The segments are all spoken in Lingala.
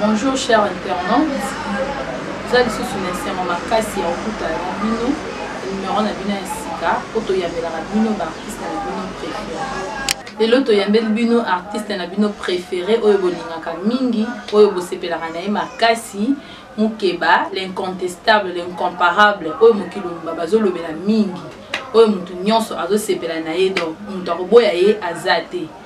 Bonjour cher internaute, eza lisusu na esengo makasi ya kokuta na bino numero na bino ya sika mpo toyambelaka bino baartiste na bino prefere lelo toyambeli bino artiste na bino prefere oyo bolingaka mingi oyo bosepelaka na ye makasi mokeba l'incontestable l'incomparable oyo mokili mobimba bazolobela mingi oyo moto nyonso azosepela na ye donc moto akoboya ye aza te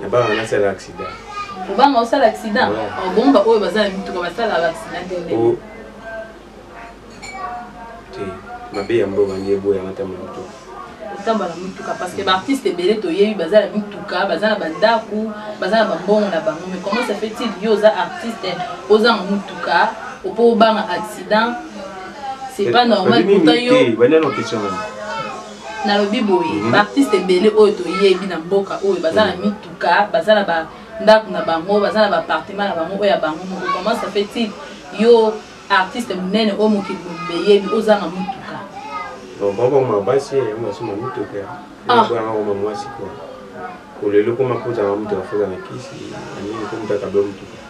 nabanga nasala accident obanga osala accident obongo baoyo baza na mituka basalaka accident te ndenge te mabe ya mboka nde eboyanga ata moto kotamba na mituka parce que baartiste ebele toyebi baza na mituka baza na bandako baza na bambongo na bango mais comment ça fait-il yo oza artiste ozanga motuka opo obanga accident c'est pas normal pourtant yo nalobi boye mm -hmm. baartiste ebele oyo toyebi na mboka oyo baza na mhm. mituka baza na bandako na bango baza na bapartima na bango oyo ya bango moko comment ça fait il yo artiste monene oyo mokili mobimba eyebi ozanga motuka baboma basi basoma mituka ebwana koma mwasi kwa kolelo koma kozanga motuka fozana kisi anini komutaka blo motuka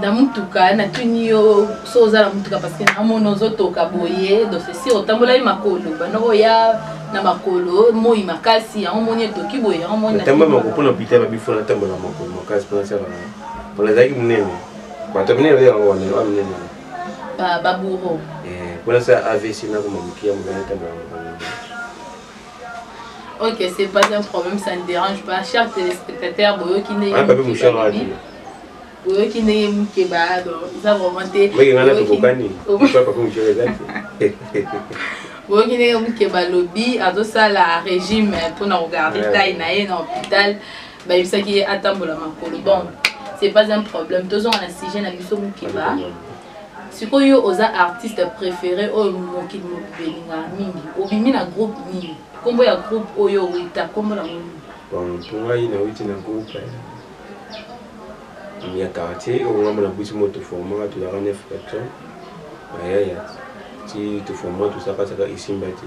na motuka natuni yo so oza na motuka parce que namoni ozotoka boye donc sesi otambolaki makolo banda oya na makolo moi makasi yango moni etoki boye yango monitamba makolo mpona pita babi fo natambola makolo makasi mpona sala mpona ezalaki monene bato minene oyo yango wana oa minene baburo mpona sala avc nakoma mokiya mobali tambola makolo Ok, c'est pas un problème, ça ne dérange pas. Chers téléspectateurs, boyoki ndenge ah, papi mushara ati. Boyoki ndenge muke ba do, ça vraiment te. Boyoki ngana to kokani. Pourquoi papi mushara ezati? Boyoki ndenge muke ba lobby azo sala régime pour na regarder taille na ye na hôpital. Ba yebisaki ye atambola makolo. Bon, c'est pas un problème. Tozonga na sujet na biso muke ba. siko yo oza artiste préféré oyo mokili mobimba elingaka mingi obimi na groupe nini nkombo ya groupe oyo owuta nkombo na ngo bon mpo ngai nawuti na groupe eh, ya quartier oyo ngambo na buti moto formaka tozalaka neuf personne ayaya ti toformaka tozalaka saka esimba te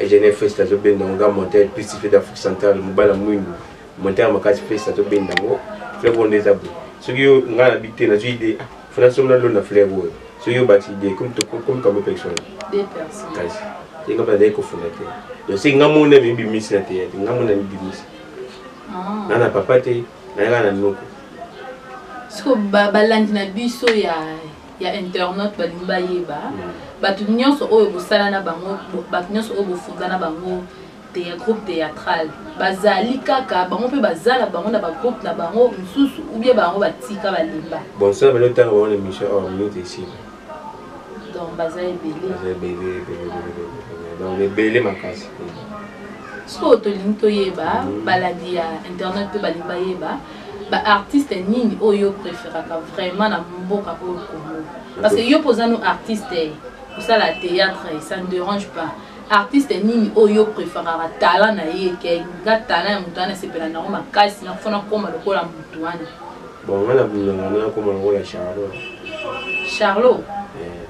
Eugene Festa azo benda ngo ga monter plus fait d'Afrique centrale mobala mwindu monter makasi Festa azo benda ngo fleuve oyo nde eza boye soki yo ngai na bite nazwi idée ah, fona somi na lona fleuve oyo soki obakisi idée comme comme comme personne kasi ye ngai bazali kofunda te donc soki ngai mona mibimisi na teya te ngai mona mibimisi ah. na na papa te nayaka na noko siko balandi na biso ya ya internaute balingi bayeba bato nyonso oyo bosala na bango bato nyonso oyo bofunda na bango te ya groupe théâtral bazali kaka bango mpe baza na bango na bagroupe na bango mosusu oubien bango batika balemba bonsoir belo ntango bango na émission or oh, minute esili donc baza ebele donc ebele makasi sikoyo tolingi toyeba mm. balandi ya internet mpe balingi bayeba ba artiste nini oyo yo preferaka vraiment na mboka oyo congo parce que yo mpe oza no artiste kosala théâtre ça ne dérange pas artiste nini oyo yo preferaka talent na ye ke nga talent ya moto wana esepela nango makasi nakofo nakoma lokola moto wana bon nga na bundanga na nakoma lokola charlot charlot eh.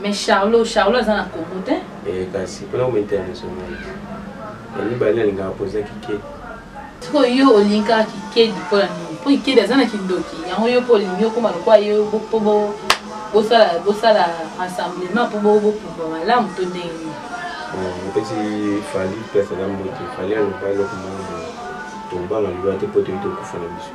mais charlot charlot aza na congo te eh, kasi mpona koma international ya mibale nalingaka poza kikedi sikoyo yo olingaka kikedi mpo na nini mpo kikedi aza na kindoki yango yo mpo olingi okoma lokola yo mpo bosala bosala rassemblement mpo bopupa malamu to ndenge nini mpesi eh, fali place aza mbote fali aloba eloko moko tombanga liwa te mpo toyi tokufa na biso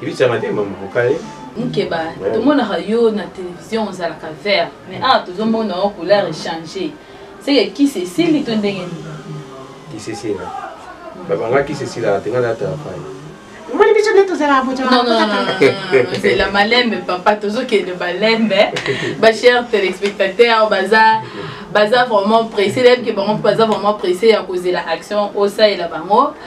Ibiza madema mukale. Mukeba, tomonaka yo na télévision ozalaka vert, mais awa tozomona yo couleur échanger. Seke kisi esili to ndenge nini? Kisi esila. Babanga kisi esila te ngala ta fai. Moni biso nde tozalaka boto. Non non non. C'est la malembe papa, tozokende malembe. Ba chers téléspectateurs, baza baza vraiment pressé, lève que bango baza vraiment pressé ya kozela action osalela bango.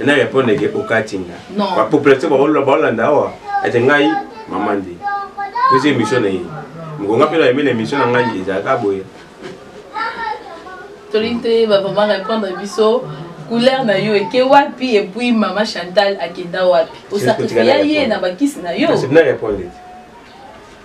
ena répondre ke okati nga ba population baolola baolanda awa ete ngai mama nde posi émission na ye mokonga mpe na emeli émission na ngai ezalaka boye tolingi toyeba vraiment répondre biso couleur na yo eke wapi epuis mama chantal akenda wapi osakrifia ye na bakisi na yo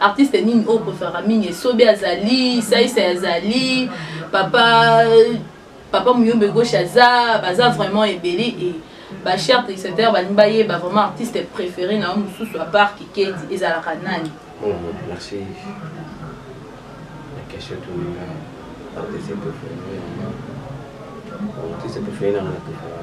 artiste nini oyo preferaka mingi esobe azali saisa azali papa papa muyombe gauche aza baza vraiment ebele e bacher triceteur balingi bayeba vraiment artiste préféré na yo mosusu apart kikedi ezalaka nani oh, merci la question toninga artiste préféré artiste préféré nanga na préféré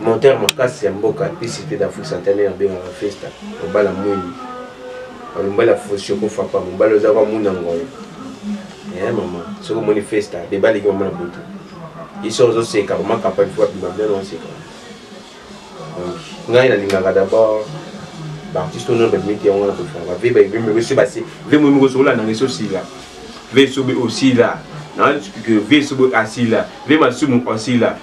Monteur makasi ya mboka puis cité d'Afrique centenaire abengaka Festa mobala mwindu mobali ya fosioko fapa mobali oza kwa muna ngoyo e eh, mama soki omoni Festa bebaleki mama na butu iso ozoseka mama kapali fo abima bien oseka donc ngai nalingaka d'abord baartiste oyo babimi te yango wana kofanga ve baevemekosi base ve moyi moko sokolanda ngai sosila ve sobe osila na ve sobe asila ve masumu osila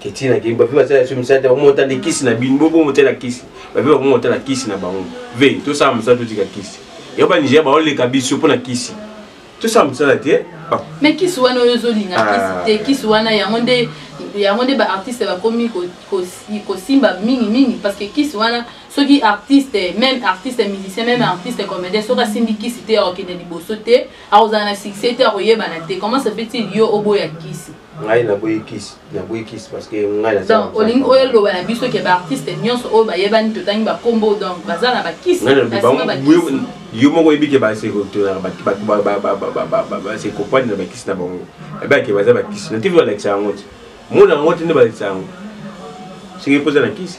keti na kei bape basala biso misala te bakoma otala kisi na bino boko motala kisi bape bakoma otala kisi na bango ve tosala mosala totika kisi yango banigeria baoleka biso mpo na kisi tosala mosala te me kisi wana oyo ozolinga ah. kisi te kisi wana yango nde yango nde baartiste bakomi kosimba mingi mingi parce que kisi wana soki artiste même artiste musicien même artiste comédien soki asimbi kisi te akokende liboso te akozala na succès te akoyebana te comment ça fait-il yo oboya kisi ngai naboyi kisi naboyi kisi parce que ngai na donc olingi oyo eloba na biso ke baartiste nyonso oyo bayebani totangi bakombo donc baza na bakisi yo moko oyebi ke basekoprendre na bakisi na bango ebake baza bakisi na tv balakisa yango ti mona yango ti nde balakisa yango soki epoza na kisi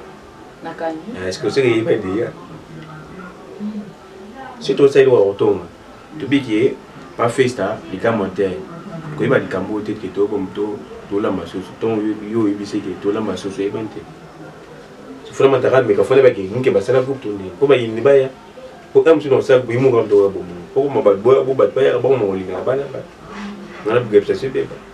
nakangi eh, eske oseke yeba deya soki tosali lokola kotonga tobiki ye bafesta likambo te koyeba likambo oyo te ke tokomi to tolamba soso ntongo yo oyebisi ete tolamba soso eyebani te sofona mataka meka fona bake muke basala groupe tonde mpo bayini baya mpo ka mosusu na kosala boyi moko mpe oya bomono mpo koma bato boya bo bato bayaka bango makolingaka bana bato ngana bigabisa so ebeba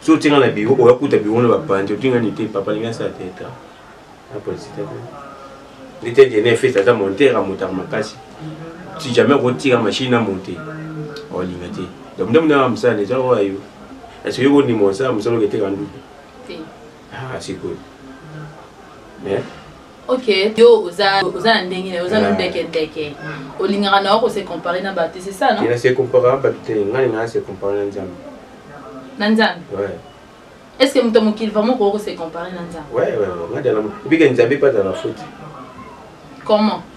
so otinga na biro oya kuta biro na bapanzi otinga ni te papa lingi asala teatre na politique te nde te jene fete aza montere amotaka makasi si jamais okotika machine na monte olinga te donc nde mona mosala deja oya yo esoki kondima osala mosala oketeka nduku sikoyo ok yo oza oza na ndenge na oza nondeke ah. ndeke hmm. olingaka na yo kose compare na bato c'est ça non se compare na bato te ngai ngaa se compare na nzambe na nzambe est ce que moto mokili vraiment okoki kose compare na nzambe ebike nzambe mpe azala foti comment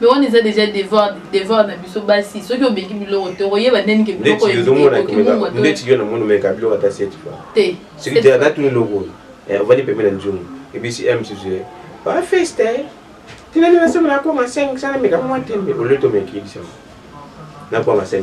me wana eza deja devoir devoir na biso basi soki obeki biloko te okoyeba ndeni ke biloko ndeti yo na moni omeka biloko ata seti fa te soki te ata tuni eloko oyo eh, ovandi pembe na nzungu ebisi m susu ye bafeste eh. tinani nasema nakoma 500 nameka mwa tembe oleti omeki bisango nakoma 500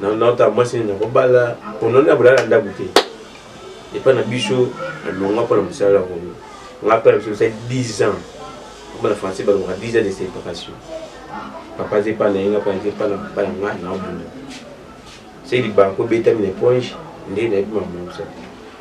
naota mwasi nini nakobala mpono na bolala na ndako te epa na biso alonga mpo na mosala yango nga mpe na biso mosali 10 ans mpo na français balongaka 10 ans de séparation papa aza epa na ye nga mpe aza epa na papa na nga naobunda se libanko obetami na eponge nde nayebi makambo na mosala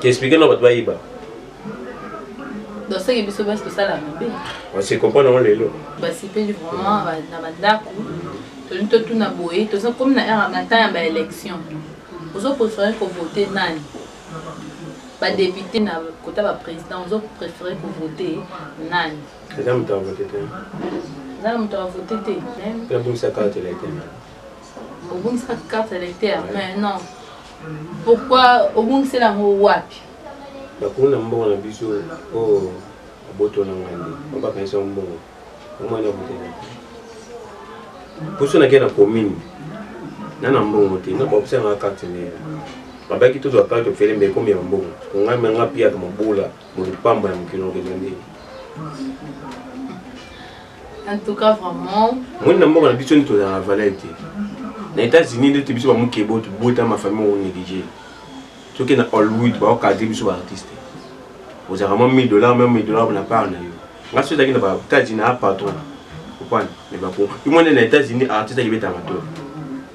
Qu'est-ce que nous doit yiba? Donc c'est que biso basi tosala mabe. On se comprend dans le lot. Bah c'est pas vraiment na bandako. Toni to tuna boye, to ça comme na era na temps ya élection. Ozo préférer ko voter nani? Ba député na kota ba président, ozo préférer ko voter nani? Eza moto avote te eza na moto avote te obongisaka carte électeur obongisaka carte électeur mais non pourquoi obungisela yango wapi bakuna mbongo na biso oyo oh, aboto na ngai nde babakanisa yango mbongo omwana abotela mposo nakei na commune na na mbongo te na baopesangaka carte neye babaki tozwa carte ofele mbe ekomi ya mbongo ngai menga piyaka mabula Moni pamba ya mokili okenda ndenge. En tout cas vraiment. Moni na mboka na biso ni tozala valeur te. Na États-Unis nde te biso ba mokebo to bota ma famille o négligé. Soki na Hollywood ba okadre biso ba artiste. Ozaka mwa 1000 dollars même 1000 dollars na part na yo. Nga soki ezalaki na ba États-Unis na patron. Opana. Mais ba ko. Imone na États-Unis artiste akibeta matoro.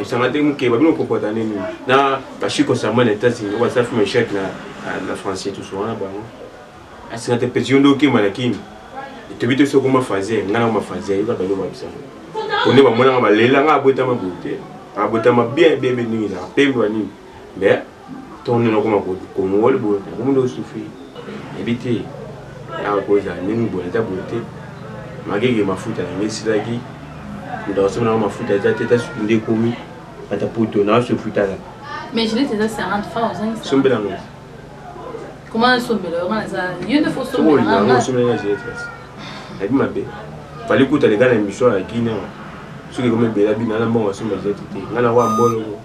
esanga te moke babino kokota nini na bashi concernant na etats-unis oyo basala film echec na na français toso wana bango asenga te peti yo nde okima na kini etobi te soko mafaze ngai nango mafaze yoka bino babisanga po nde bamonanga balela ngai abotama boye te abotama bien bien bien ndenge ezaka pembe wa nini mais ntongo nini okoma kongoli boye okomi nde osufi yebi te awa kozala ndenge boye eza boye te magege mafuta na ngai esilaki moto akosomi nango mafuta eza te ta suki nde ekomi ata poto na osufi tala sombela ngo nayebi mabe fali kuta leka na émission ya guine soki ekomi ebela bino ana mbongo asomba eza te te ngai nakoya mbolongo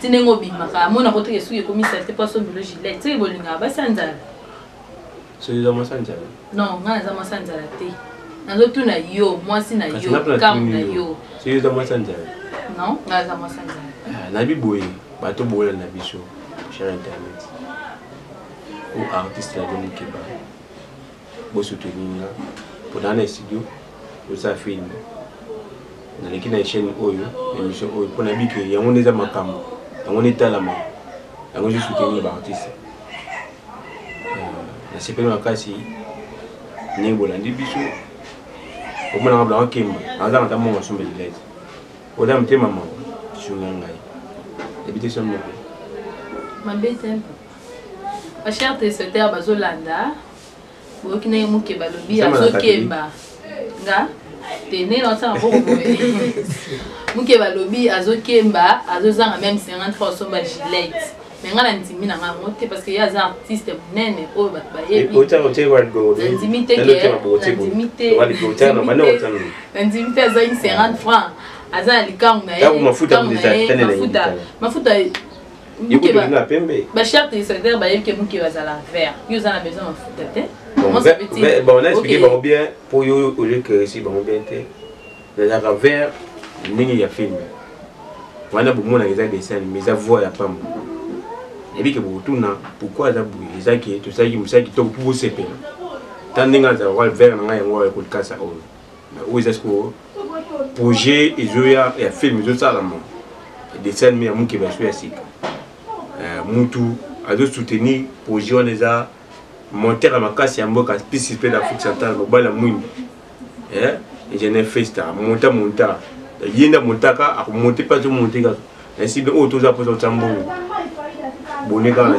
ti ndenge obimaka amona ko teke suki ekomi salite mpo asombelo gilet soki bolingaka basi ya nzala soki eza mwasi ya nzala non ngai naza mwasi ya nzala te nazotuna yo mwasi na yo kambo na yo soki eza mwasi ya nzala non ngai aza mwasi ya nzala ah, nayebi boye bato boyela na biso cher internet o artiste na bino mokeba Bo soutenir nga po na na studio osa film naleki na chaîne oyo émission oyo po na bike yango nde eza makambo yango nde etalama yango ezo soutenir ba artiste euh, nasepeli makasi ndenge bolandi biso omonaka blango kemba azanga ata mongo asomba lilete oza motema mawa sunga ngai ebite somo mabe te ba chers téléspectateurs bazolanda boyoki ndenge moke balobi Nsema na azokemba nga te ndenge naosanga boko boye moke balobi azokemba azozanga meme 50 fois osomba gilete me nga nandimi na nga yango te parce que ye aza artiste monene oyo bato bayebi nandimi te ke nandimi te nandimi te azangi 50 francs aza na likangu na ye mafuta mafuta bacharte de secretaire bayebi ke moke bazala vert yo oza na besoin mafuta te bon naexplike bango bien mpo yo oliekeresi bango bien te nazalaka vert ndenge ya filme wana bomonaka eza dessin anime eza voix ya pamba eyebi ke bokotuna pourkui aza boye eza ke tosalaki mosala kitoko mpo bosepela ta ndenge azala vert na ngai yango akolkasa oyo oyo eza sikoyo projet ezoya ya film ezosalama dessin anime ya mokeba so ya sika eh, mutu azosoutenir projet wana eza monter ya makasi ya mboka pisi mpe na afrique centrale mobali ya mwindu eh, ingénieur festa monta monta ye nde amontaka akomonte mpe azomonte kaka nasi mpe oyo toza mposa otya mbongo bone kaka na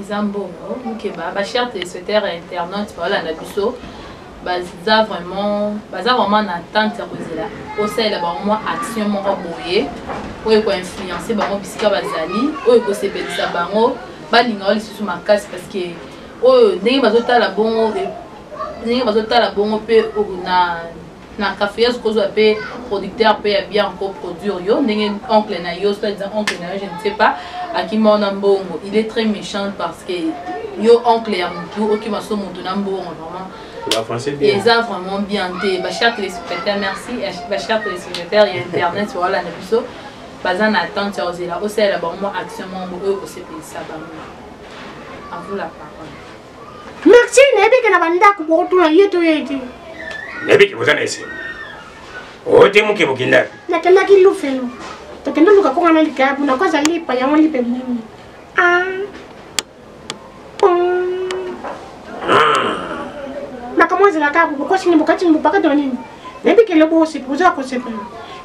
eza mbongo mukeba ba chers téléspectateurs et internautes baolanda biso baza vraiment baza vraiment na attente ya kozela osalela bango mwa action moko boye oyo ekoinfluence bango bisika bazali oyo ekosepelisa bango balinga yo lisusu makasi parce que oyo ndenge bazotala bongo ndenge bazotala bongo mpe na na cafeuse kozwa mpe producteur mpe ya bien ko produire yo ndenge oncle na yo soit disant oncle na yo je ne sais pas akima yo na mbongo il est très méchant parce que yo oncle ya motu okima so motu na mbongo vraiment eza vraiment bien te bacher téléspectateur merci bacher téléspectateur ya internet voilà na biso baza na attente ya kozela osalela bango mwa action moko oyo kosepelisa bango à vous la parole merci nayebi ke na bandako bokotuna ye to ye te nayebi ke boza na esengo ote moke bokendaki nakendaki lufelo tokende luka konga na likaya mpona ko azali epa yango lipe bumi ah. makambo azelaka bokosini bokatini bopaka to nini nayebi ke lobo osepi oza kosepela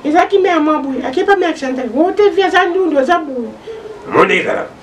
ezalaki mea mwa boye akepa mea chantal ote vi aza ndundu aza boye monde ezalaka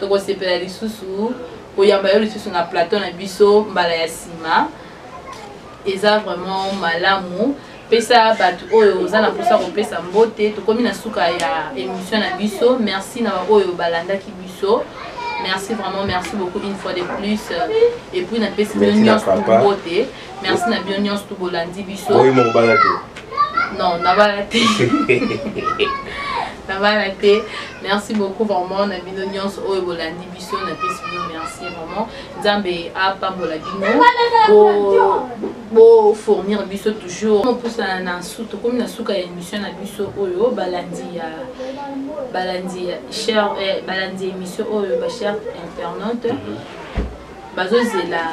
Tokosepela lisusu koyamba yo lisusu na plateau na biso mbala ya nsima. Eza vraiment malamu. pesa bato oyo oza na mposa kopesa mbote tokomi na suka ya émission na biso merci na baoyo balandaki biso merci vraiment merci beaucoup une fois de plus euh, et puis napesi bino nyonso mbote merci na bino nyonso to bolandi biso oyo moko bala te non nabala te nabala te merci beaucoup vraiment na bino nyonso oyo bolandi biso napesi bino merci vraiment nzambe apambola bino bofournir biso toujours mopusana na su tokomi na suka ya émission na biso oyo balandi ya balandi ya cher eh, balandi ya émission oyo bachere internaute mhm. bazozela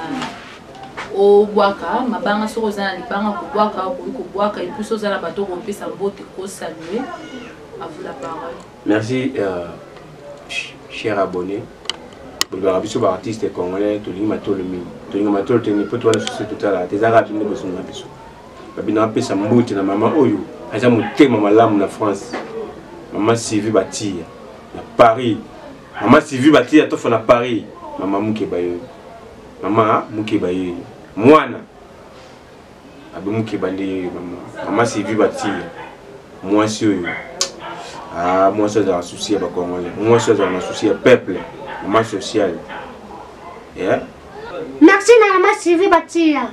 obwaka mabanga soki oza na libanga kobwaka okoki kobwaka epuis soki oza na bato okopesa mbote kosalue avou la parole merci euh, cher abonné bolobaka biso baartiste congolais tolingi matolo mingi tolinga matolo te mpo towana susu totalaka te eza kaka bino bosunga na biso babino apesa mbote na mama oyo aza motema malamu na france mama sivi batiya na paris Mama Sylvie Batia tofa na Paris. Mama muke bayo. Mama muke bayo. Mwana. Abi muke bande mama. Mama Sylvie Batia. Mwasi oyo. Ah, mwasi azala souci ya ba Congolais. Mwasi azala na souci ya peuple. Mama social. Yeah. Merci na mama Sylvie Batia.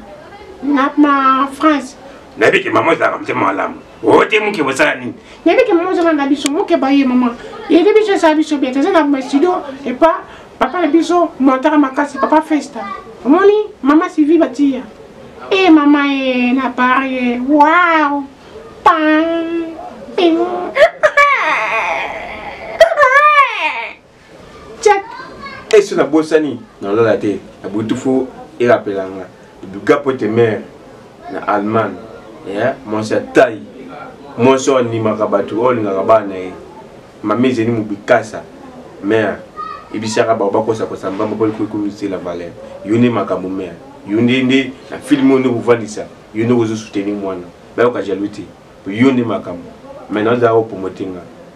Na ma France. Nabi ke mama ezalaka motema malamu. ote muke bosala nini nayebi ke mama ozala na biso muke baye mama yede biso esala biso bete eza na studio epa papa na biso montaka makasi papa festa omoni mama sivi batiya e mama e na parie wow pam check esi nabosani nalala te nabutu fo erapela nga duga pote mare na allemagne ya mwasi ya tai mwasi oyo andimaka bato oyo olingaka bana na ye mama ezeli mobikasa mare ebisaka bango bakosakosa mbamba mpo likoki komisela valeur yo nde makambo mare yo nde nde na filme oyo nde okofandisa yo nde okozosuteni mwana bayoka jalou te yo nde makambo mai nazala kopromote nga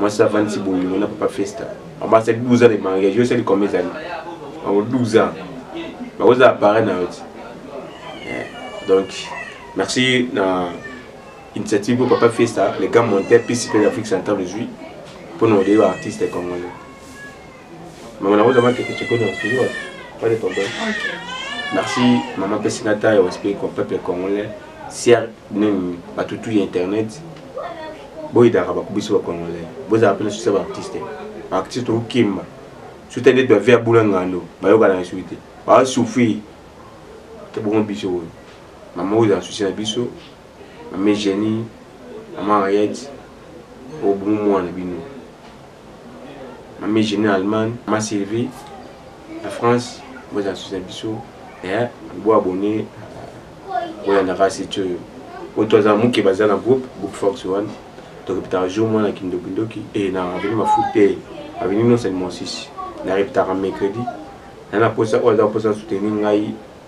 mwasi avandisi bolingo na papa festa bango basali 12 ans de mariage yo osali combien ezali bango 12 ans bakozala pare na yo ti eh, donc merci na initiative mpo papa festa le grand monteur pisi mpe l'afrique centrale ozwi mpo na odeyi baartiste congolais Maman na oza maki kicheko na studio wapi? Pale problème. Merci maman pesina ta yo respect ko peuple congolais. Sier nini batutu ya internet. Boyidaka bakubiso ba congolais. Bozala pe na succès ba artiste. Ba artiste okimba. Suta nde to via bula ngando. Bayoka na suite. Ba souffrir. Te bongo biso oyo. Maman oza souci na biso. Maman Jenny, maman Henriette. Obumu mwana bino. mami jeni na allemagne ma sylvie na france bozala susi na biso eh, bo abone boyanda kaka site oyo oyo toaza moke baza na groupe groupe fox one tokepetaka jour mwana kindokindoki e eh, na aveni mafu te aveni nonsani mosisi narepetaka mercredi na na posa oyo aza posa soutenir ngai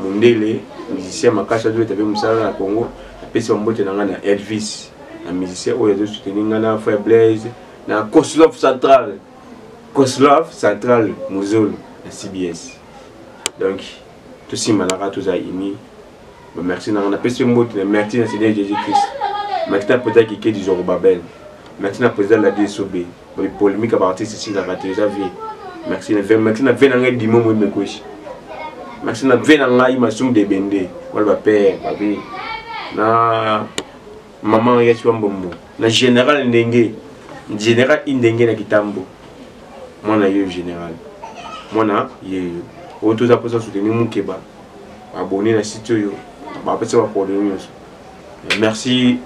Mundele musicien makasi azo beta pe musala na Congo apesi ba mbote na nga na Elvis na musicien oyo azo soutenir nga na frère Blaise na Koslov Central Koslov Central Muzolo na CBS donc tosimbanaka toza unis ba merci na nga napesi yo mbote na merci na Seigneur Jésus Christ merci na président Kikedi Zorobabel merci na président Ladi Esobe ba polemique ba artiste si na raté eza vie merci na vie merci na vie na ngai dimo mo mekoshi merci na vie na ngai masum de bende wala ba père ba vie na maman ya chwa mbombo na général ndenge général indenge na kitambo mwana yeyo général mwana yeyo oyo toza mposa soutenir mokeba abone na site oyo bapesa baprobleme nyonso merci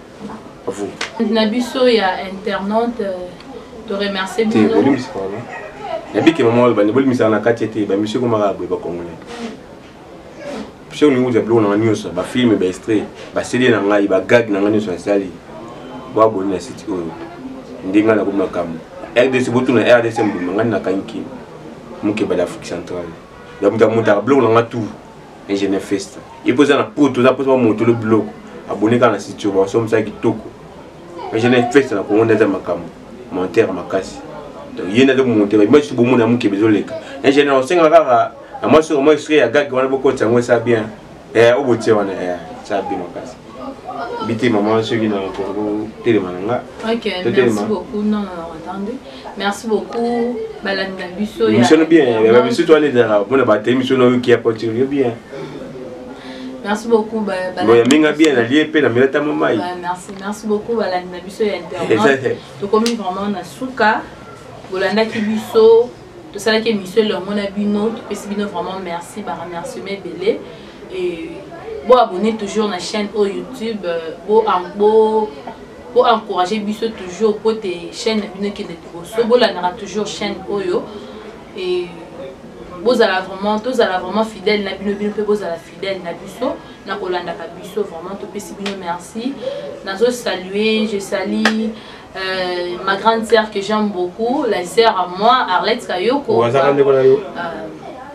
à vous na biso ya internaute euh, to remercier bino nabike mama oyo bande bolimisaka na kati ete bamisio ekomaka boye bakongolai mpe olingi kozwa biloko na ngai nyonso bafilme baestre baseli na ngai bagag na ngai nyonso nasali boaboni na site oyo ndenge ngai nakomi makambo rdc botuna rdc mbuma ngai nakangi kini mokebala afrique centrale ya moto amotaka biloko na ngai tour ingénieur festa ye mpo eza na poto oza mposa bamotolo biloko abone kaka na sitio banso mosala kitoko ingénieur festa na kongo nde aza makambo montere makasi donc ye nde azomonte bamaki so bomona mokebe ezoleka ingénieur osenga kaka na mwa soko mwa estre ya gage wana bokotisa yango esa bien eh, obotie wana eh, esa bien makasi bitema mama soki na kongo telema na nga totelema Merci beaucoup. Balanda biso ya. Mission bien. Ba biso to aller dans la bonne ba te mission no qui a porté bien. Merci beaucoup ba ba. Bon, minga bien na lié pe na milata momai. Bah, merci, merci beaucoup balanda biso ya internet. To komi vraiment na suka. Bolanda ki biso. To sala ki mission le mona bino, to pesi bino vraiment merci, ba remercier belé et bo abonner toujours na chaîne au YouTube, euh, bo bo bo encourager biso toujours po te chaîne na bino ekende liboso bolandaka toujours chaîne oyo et bozala vraiment tozala vraiment fidèle na bino bino mpe bozala fidèle na biso na kolandaka biso vraiment topesi bino merci nazo salue je salie euh, ma grande sœur que j'aime beaucoup la sœur à moi arlette kayoko euh,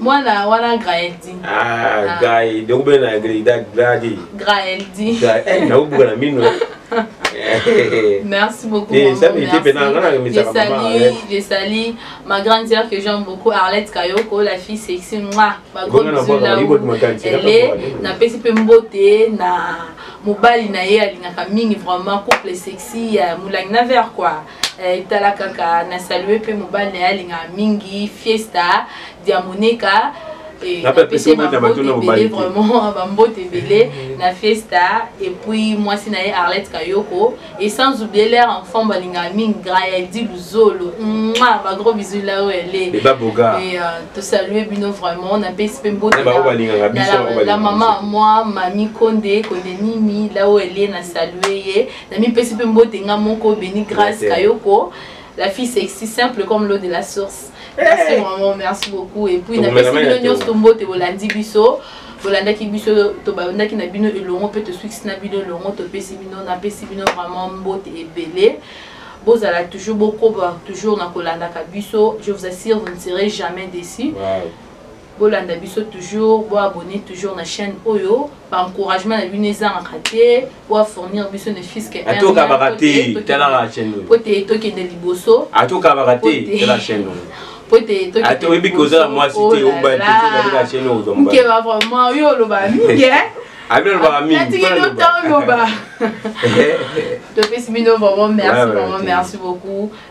mwana wana graeldi ah, ah. gai dokube na grida gradi graeldi eh, nakobuka na mino Merci beaucoup. Et ça, mais était pendant la remise à maman. Je salue ma grande sœur que j'aime beaucoup, Arlette Kayoko, la fille sexy, moi, ma gros bisou là où elle est. Na pesi pe mbote, na mobali na ye alingaka mingi vraiment couple sexy, euh, moulang na verre quoi. Eh, etala kaka na salue mpe mobali na ye alingaka mingi fiesta diamoneka eh, napese bambote vraiment bambote ebele na fiesta epuis mwasi na ye arlette kayoko et sans oublier leur enfant balingaka mingi grand yaldi luzolo mwa bagros bisu lao ele euh, tosalue bino vraiment napesi mpe mbote la mama ya mwa mami konde konde nini lao ele na salue ye namipesi mpe mbote nga moko beni grace kayoko la fille sexy simple comme l'eau de la source eh. merci vraiment merci beaucoup et puis napesi bino nyonso mbote bolandi biso bolandaki biso tobandaki na bino elongo mpe tosukisi na bino elongo topesi bino napesi bino vraiment mbote ebele bozala toujours bokoba toujours na kolandaka biso je vous assure vous ne serez jamais déçu wow. Bolanda biso toujours, bo abonner toujours na chaîne oyo, ba encouragement na bino ezangaka te, bo fournir biso ne fils que un. Atoka bakate, tala la chaîne oyo. Pote tokende liboso. Atoka bakate, tala la chaîne oyo. po ete atoki oyebi kozala mwasi te obaaa nkeba vraiment yo oloba mingi alobaka mingioloba topesi bino vraiment merci vraiment merci beaucoup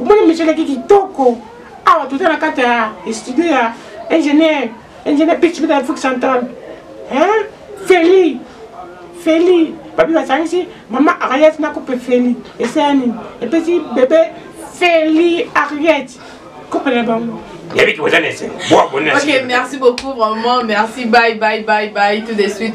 omoni misio eleki kitoko awa toza na kati ya studio ya ingénieur ingénieur pitchpita afrique centrale feli feli babi basangisi mama ariet na coupe feli esaya nini epesi bebe feli ariet coupe na bango yabi kiboza na esengo boabonne ok merci beaucoup vraiment merci bye bye bye bye tout de suite